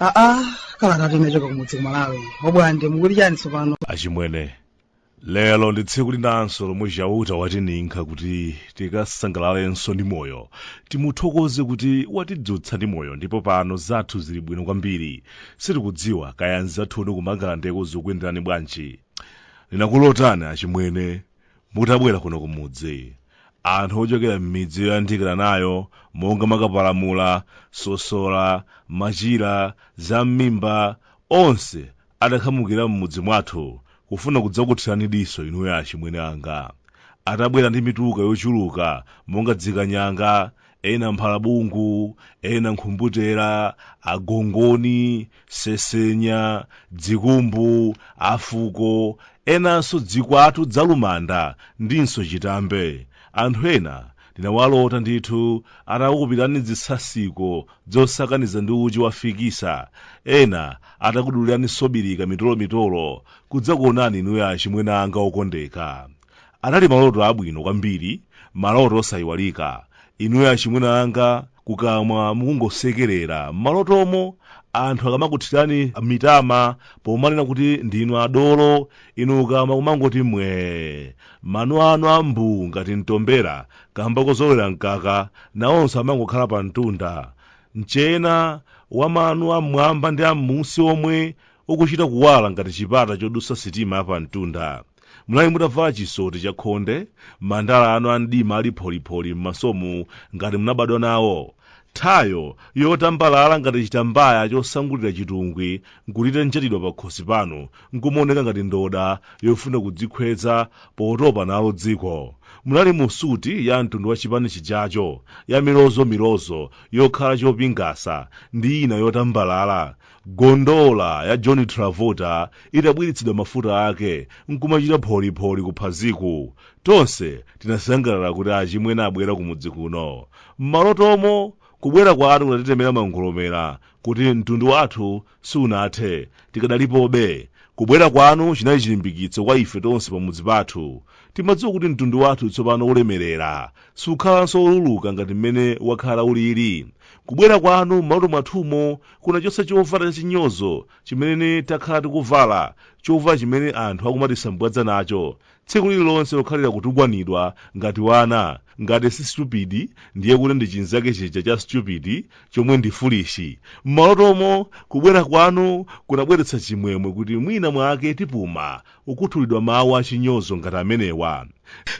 aa kalata yochoka kumudzi kumalawi obwande mukuti chani tsopano achimwene lero ndi tsiku linanso lomwe chauta watininkha kuti tikasangalalenso ndi moyo timuthokoze kuti watidzutsa ndi moyo ndipo pano zathu zili bwino kwambiri sitikudziwa kaya anzathunu kumangalandeko zikuyenderani bwanji ndinakulotani achimwene mutabwera kuno kumudzi anthu ochokera m'midzi yoyandikana nayo monga makapalamula sosola machira zam'mimba onse adakhamukira m'mudzi mwathu kufuna kudzakuthirani diso inuyo achimwene anga. Atabwera ndi mituluka yochuluka monga dzikanyanga, ena mphalabungu, ena nkhumbutera, agongoni, sesenya, dzikumbu, afuko, enanso dzikwatu dzalumanda ndinso chitambe. Anthu ena Ndinawalota ndithu atakukupirani dzitsatsiko dzosakaniza ndi uchi wa fikisa, ena atakudulirani sobirika mitolo-mitolo kudzakuonani inuyo achimwene anga okondeka. Anali maloto abwino kwambiri, maloto osayiwalika. Inuyo achimwene anga kukamwa mukungosekerera m'malotomo anthu akamakuthirani mitama pomanena kuti ndinu adolo, inu kukamwa kumangoti mwee. Mano anu a mbuu ngati mtombera kaamba kozolowera mkaka, nawonso amangokhala pamtunda. Mchena wa mano am'mwamba ndi am'munsi omwe ukuchita kuwala ngati chipata chodutsa sitima yapamtunda. Munali mutavala chisoti chakhonde, mandala anu amdima ali pholipholi m'masomu ngati munabadwa nawo. Thayo yotambalala ngati chitambaya chosangulira chitungwi nkuti itanjatidwa pakhosi panu nkumaoneka ngati ndoda yofuna kudzikhweza potopa nalo dziko. Munali mu suti ya mtundu wa chipani chijacho, yamilozomilozo, yokhala chopingasa, ndi ina yotambalala, Gondola ya John Travolta itabwiritsidwa mafuta ake n'kumachita pholipholi kuphaziku, tonse tinasangalala kuti achimwene abwera kumudzi kuno. M'malotomo, kubwera kwanu kunatitemera mangolomera kuti mtundu wathu sunathe, tikadalipobe. Kubwera kwanu chinali chilimbikitso kwa ife tonse pamudzi pathu. Timadziwa kuti mtundu wathu tsopano ulemerera, sukhalanso woluluka ngati mmene wakhala ulili. Kubwera kwanu m'maloto mwathumo kunachotsa chovala chachinyozo chimene takhala tikuvala, chovala chimene anthu akumatisambwadza nacho tsiku lililonse lokhalira kutukwanidwa ngati wana, ngati si stupid ndiye kuti ndi chinzake chija cha stupid chomwe ndi foolish. M'malotomo, kubwera kwanu kunabweretsa chimwemwe kuti mwina mwake tipuma kukhuthulidwa mawu achinyozo ngati amenewa.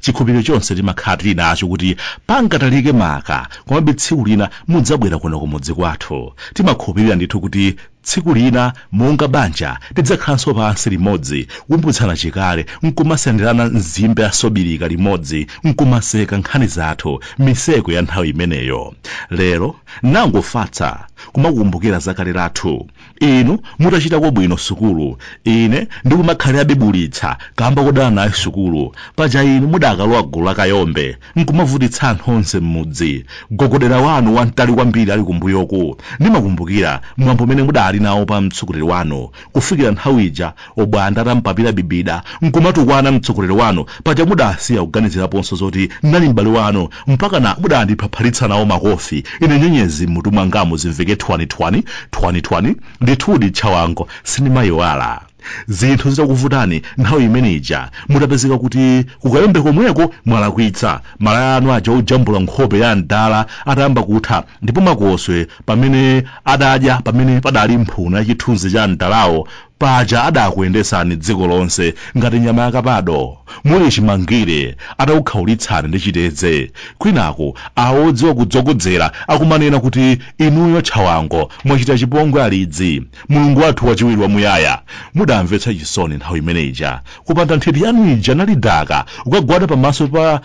chikhulupiriro chonse timakhala tili nacho kuti pangatalike maka komabe tsiku lina mudzabwera kuno kumudzi kwathu timakhulupirira ndithu kuti tsiku lina monga banja tidzakhalanso pansi limodzi kukumbutsana chikale nkumasenderana nzimbe ya sobirika limodzi nkumaseka nkhani zathu miseko ya nthawi imeneyo lero nangofatsa kumakukumbukira za kale lathu inu mutachitako bwino sukulu ine ndikumakhalirabe bulitsa kamba kodana nayo sukulu paja inu mudakalowa gulu la kayombe nkumavutitsa anthu onse m'mudzi gogodera wanu wamtali kwambiri ali kumbuyoku ndimakumbukira mwambo umene mudali nawo pa mtsogoleri wanu kufikira nthawi ija Obwanda atampapira bibida nkumatukwana mtsogoleri wanu paja mudasiya kuganiziraponso zoti ndinali m'bale wanu mpakana mudandiphapharitsa nawo makofi ine nyenyezi m'mutu mwangamu zimveke thwanithwani thwanithwani ndithudi tchawango sindimayiwala zinthu zitakuvutani nthawi imene ija mutapezeka kuti ku kayombe komweko mwalakwitsa malaya anu aja ojambula nkhope ya mdala atayamba kutha ndipo makoswe pamene adadya pamene padali mphuno ya chithunzi cha mdalawo Paja adakuyendetsani dziko lonse ngati nyama ya kapado, muli chimangire atakukhaulitsani ndi chitedze, kwinaku awo odziwa kudzokodzera akumanena kuti inuyo Tchawango mwachita chipongwe alidzi, Mulungu wathu wachiwiri wamuyaya. Mudamvetsa chisoni nthawi imene ija kupanda nthiti yanu ija Nalidaka kukagwada pamaso pa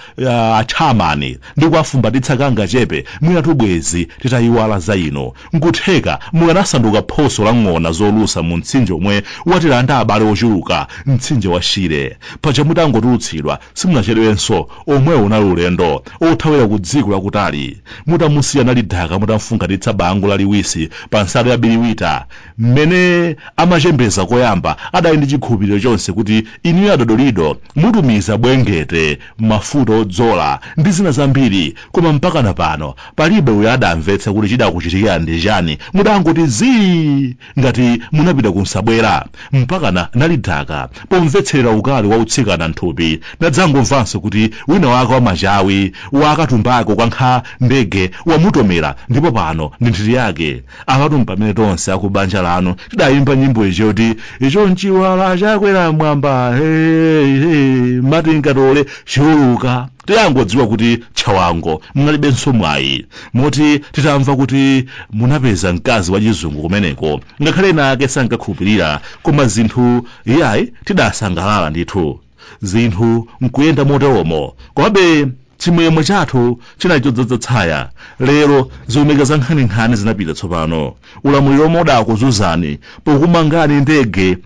a Chairman ndi kuwafumbatitsa kangachepe mwinatu bwezi titayiwala za inu. N'kutheka mukanasanduka phoso la ng'ona zolusa mu mtsinje womwe watilanda abale ochuluka, mtsinje wa Shire. Paja mutangotulutsidwa simunachedwenso, omwewo unali ulendo othawira ku dziko lakutali. Mutamusiya Nalidaka mutamfungatitsa bango laliwisi pa nsalu ya biriwita, mmene amachembeza koyamba adali ndi chikhulupiriro chonse kuti inuyo a Dodolido mutumiza bwengete, mafuta odzola ndi zina zambiri koma mpakana pano Palibe uyo adamvetsa kuti chidakuchitikirani ndi chani, mudangoti zii ngati munapita ku nsabwera, mpakana nalidaka pomvetserera ukali wa utsikana nthupi, nadzangomvanso kuti wina wake wa machawi wa akatumbako kwa nkha ndege wamutomera ndipo pano ndi nthiti yake. Apatu mpamene tonse aku banja lanu tidayimba nyimbo ija yoti icho nchiwala chakwera m'mwamba hey, hey, mati nkatole chiuluka. Tidangodziwa kuti Chawango munalibenso mwayi moti titamva kuti munapeza mkazi wachizungu kumeneko ngakhale ena ake sankakhulupirira koma zinthu iyayi tidasangalala ndithu. Zinthu nkuyenda moteromo komabe chimwemwe chathu chinali chodzadza tsaya. Lero zomeka za nkhaninkhani zinapita tsopano. Ulamuliro womwe udakuzunzani pokumangani ndege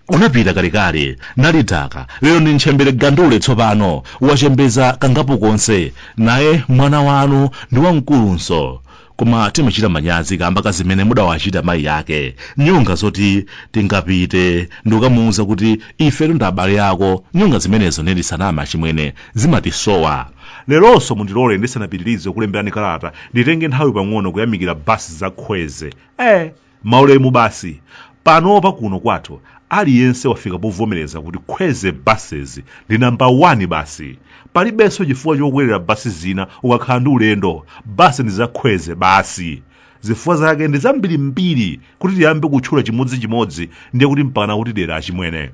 unapita kalekale Nalidaka lero ndi ntchembere gandule tsopano wachembeza kangapo konse naye mwana wanu ndi wamkulunso koma timachita manyazi kamba ka zimene mudawachita mayi yake nyonga zoti tingapite ndikukamuwuza kuti ifetu ndi abale ako nyonga zimenezo ndisaname achimwene zimatisowa leronso mundilole ndisanapitirize kulemberani kalata nditenge nthawi pang'ono kuyamikira basi za Kwezy eh Maulemu basi. Panopa kuno kwathu aliyense wafika povomereza kuti Kwezy Buses ndi number 1 basi. Palibenso chifukwa chokwerera bus zina ukakhala ndi ulendo. Bus ndi za Kwezy basi. Zifukwa zake ndi zambirimbiri kuti tiyambe kutchula chimodzichimodzi ndiye kuti mpakana kutidera achimwene.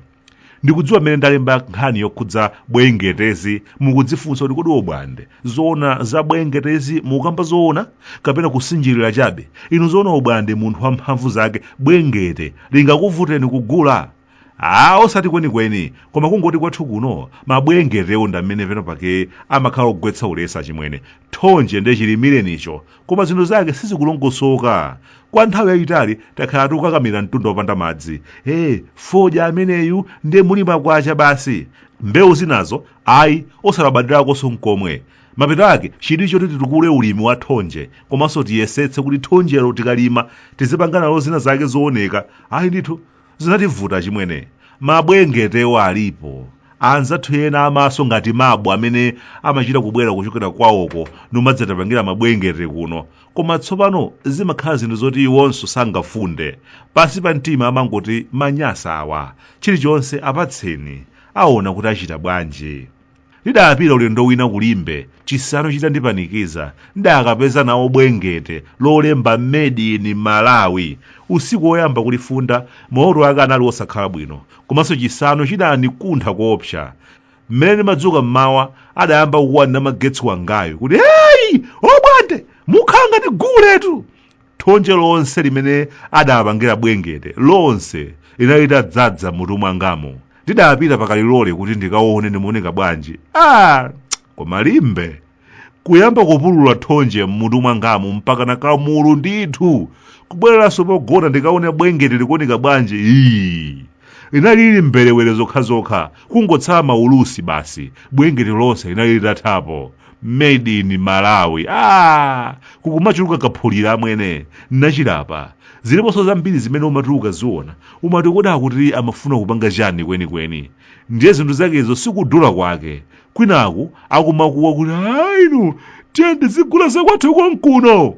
ndikudziwa mmene ndalemba nkhani yokhudza bwengetezi mukudzifunsa kuti kodi obwande zoona za bwengetezi mukukamba zoona kapena kusinjirira chabe inu zoona obwande munthu wa mphamvu zake bwengete lingakuvuteni kugula a osati kwenikweni koma kungoti kwathu kuno mabwengetewo ndamene penapake amakhala ogwetsa ulesi achimwene Thonje ndiye chilimirenicho, koma zinthu zake sizikulongosoka. Kwa nthawi yayitali takhala tikukakamira mtunda wopanda madzi. Ee, fodya ameneyu ndiye muli makwacha basi. Mbewu zinazo, ayi, osalabadirakonso nkomwe. Mapeto ake chidwi choti titukule ulimi wa thonje, komanso tiyesetse kuti thonjelo tikalima tizipanga nalo zina zake zooneka, ayi ndithu, Zinativuta achimwene. Mabwengetewo alipo. Anzathu ena amaso ngati mabu amene amachita kubwera kuchokera kwawoko nkumadzatipangira mabwengete kuno. Koma tsopano zimakhala zinthu zoti iwonso sangafunde. Pansi pa mtima amangoti manyasa awa. Chilichonse apatseni. Aona kuti achita bwanji. Ndidapita ulendo wina ku Limbe, chisanu chitandipanikiza, ndidakapeza nawo Bwengete lolemba Made in Malawi. Usiku woyamba kulifunda, maloto ake anali osakhala bwino, komanso chisanu chidandikuntha koopsa. Mmene ndimadzuka m'mawa, adayamba kukuwa ndi namagetsi wangayu kuti, Hey! Obwande! Mukhala ngati guletu! thonje lonse limene adapangira bwengete lonse linali litadzadza mmutu mwangamo ndidapita pakalilole kuti ndikaone ndimaoneka bwanji ah, koma limbe kuyamba kupulula thonje mmutu mwangamu mpakana kamulu ndithu kubwereranso pogona ndikaone bwengete likuoneka bwanji ii Linali lili mberewere zokhazokha, kungotsala maulusi basi, bwengeti lonse linali litathapo. Made in Malawi. Ah! Kukumachuluka kaphulira amwene, ndachilapa. Ziliponso zambiri zimene umati ukaziona, umati kodi apa amafuna kupanga chani kwenikweni? Ndiye zinthu zakezo sikudula kwake. Kwinaku akumakuwa kuti ainu, tiyeni tizigula zakwathu konkuno!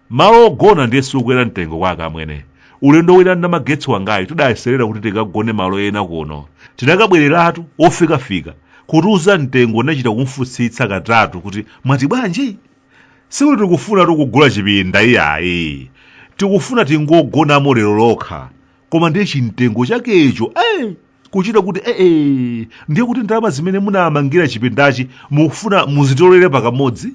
malo ogona ndiye sikukwera mtengo kwake amwene ulendo wina namagetsi wangayi tidayeserera kuti tikagone malo ena kuno tinakabwereratu ofikafika kutiuza mtengo ndinachita kumfunsitsa katatu kuti mwati bwanji sikuti tikufunatu kugula chipinda iyayi tikufuna tingogonamo lero lokha koma ndiye chimtengo chakecho eh, kuchita kuti eh, eh, ndiye kuti ndalama zimene munamangira chipindachi mukufuna muzitolere pakamodzi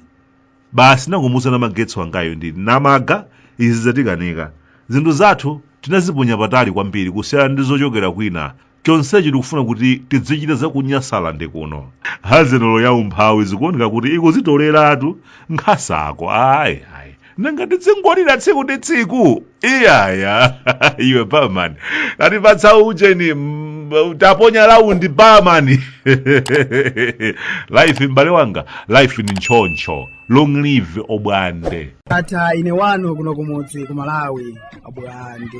basi nangomuuza namagetsi wangayo ndinati mwaona izi zatikanika zinthu zathu tinaziponya patali kwambiri kusiyana ndi zochokera kwina chonsechi tikufuna kuti tidzichita za ku Nyasalande kuno hazenolo ya umphawi zikuoneka kuti ikuzitoleratu nkhasako ayi ayi nanga tidzingolira tsiku ndi tsiku iyaya iwe barman tatipatsa ujeni mm, taponya round barman life m'bale wanga life ni ntchoncho long live obwande ndatha ine wanu kuno kumudzi ku Malawi obwande